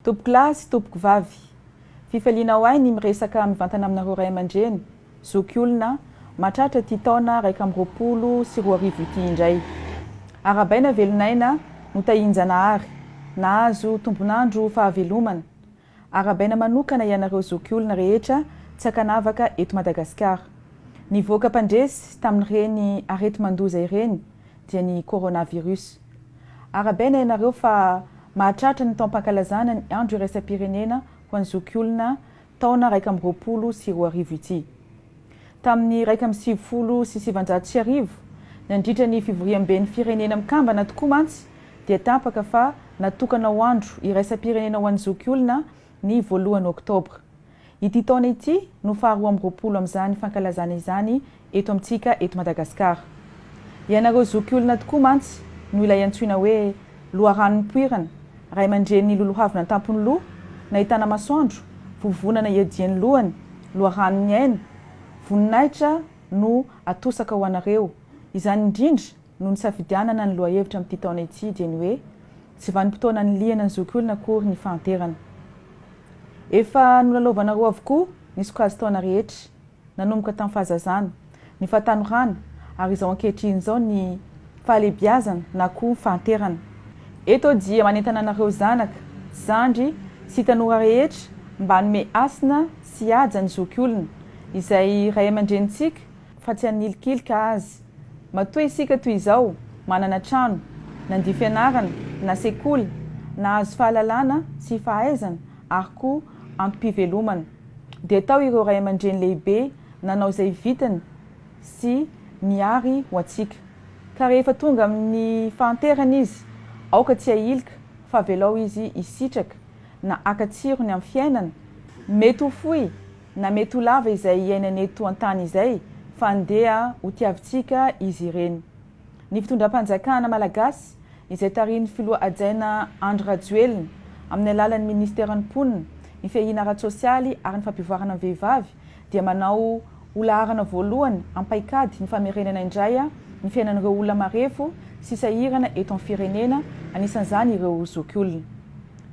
Tompoko lahy sy tompoko vavy. Fifalianao ahy ny miresaka mivantana aminareo ray aman-dreny, zoky olona, mahatratra ity taona iraika amby roapolo sy roa arivo ity indray. Arahabaina velon'aina, notahian-Janahary, nahazo tombon'andro fahavelomana, Arabaina manokana ianareo zokiolona rehetra tsy ankanavaka eto Madagasikara. Nivoaka mpandresy tamin'ireny areti-mandoza ireny dia ny coronavirus. Arabaina ianareo fa mahatratra ny taom-pankalazana ny andro iraisam-pirenena ho an'ny zokiolona taona iraika amby roapolo sy roa arivo ity. Tamin'ny iraika amby sivifolo sy sivanjato sy arivo, nandritra ny fivoriamben'ny Firenena Mikambana tokoa mantsy, dia tapaka fa natokana ho Andro iraisam-pirenena ho an'ny zokiolona ny voalohany Oktobra. Ity taona ity no faharoa amby roapolo amin'izany fankalazana izany eto amintsika eto Madagasikara. Ianareo zokiolona tokoa mantsy no ilay antsoina hoe Loharano nipoirana, ray aman-drenin'ny lolohavina an-tampon'ny loha, nahitana masoandro, vovonana iadian'ny lohany, loharanon'ny aina, voninahitra no atosaka ho anareo. Izany indrindra no nisafidianana ny lohahevitra amin'ity taona ity dia ny hoe, Tsy vanim-potoana anilihana ny zokiolona akory ny fahanterana. Efa nolalaovanareo avokoa ny sokajin-taona rehetra. nanomboka tamin'ny fahazazana, ny fahatanorana ary izao ankehitriny izao ny fahalehibiazana na koa fahanterana. Eto dia manentana anareo zanaka, zandry sy tanora rehetra mba hanome hasina sy haja ny zoky olona, izay ray aman-drenintsika fa tsy hanilikilika azy. Matoa isika toy izao manana trano, nandia fianarana na sekoly, nahazo fahalalana sy fahaizana ary koa ampi-pivelomana. dia tao ireo ray aman-dreny lehibe nanao izay vitany sy niary ho antsika. Ka rehefa tonga amin'ny fahanterany izy, aoka tsy hahilika fa avelao izy hisitraka na haka tsirony amin'ny fiainana, mety ho fohy na mety ho lava izay iainany eto an-tany izay, fa andeha hotiavintsika izy ireny. ny fitondram-panjakana malagasy izay tarihin'ny filoha hajaina Andry Rajoelina amin'ny alalan'ny minisiteran'ny Mponina, ny fiahiana ara-tsosialy ary ny fampivoarana ny vehivavy dia manao ho laharana voalohany am-paikady ny famerenana indray ny fiainan'ireo olona marefo sy sahirana eto amin'ny firenena, anisan'izany ireo zokiolona.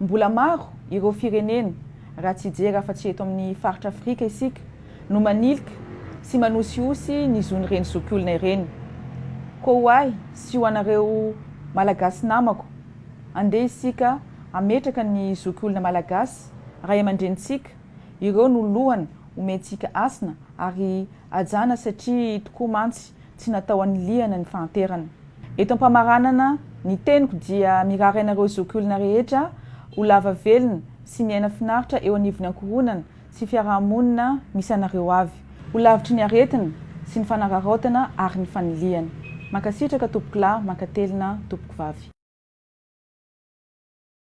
Mbola maro ireo firenena, raha tsy hijery afa-tsy eto amin'ny faritra Afrika isika, no manilika sy manosihosy ny zon'ireny zokiolona ireny. Koa ho ahy sy ho anareo Malagasy namako, andeha isika hametraka ny zokiolona Malagasy, ray aman-drenintsika, ireo no lohana omentsika hasina ary hajana satria tokoa mantsy tsy natao anilihana ny fahanterana. Eto am-pamaranana ny teniko dia mirary anareo zoky olona rehetra ho lava velona sy miaina finaritra eo anivon'ny ankohonana sy fiaraha-monina misy anareo avy. Ho lavitry ny aretina sy ny fanararaotana ary ny fanilihana. Mankasitraka tompokolahy, mankatelina tompokovavy.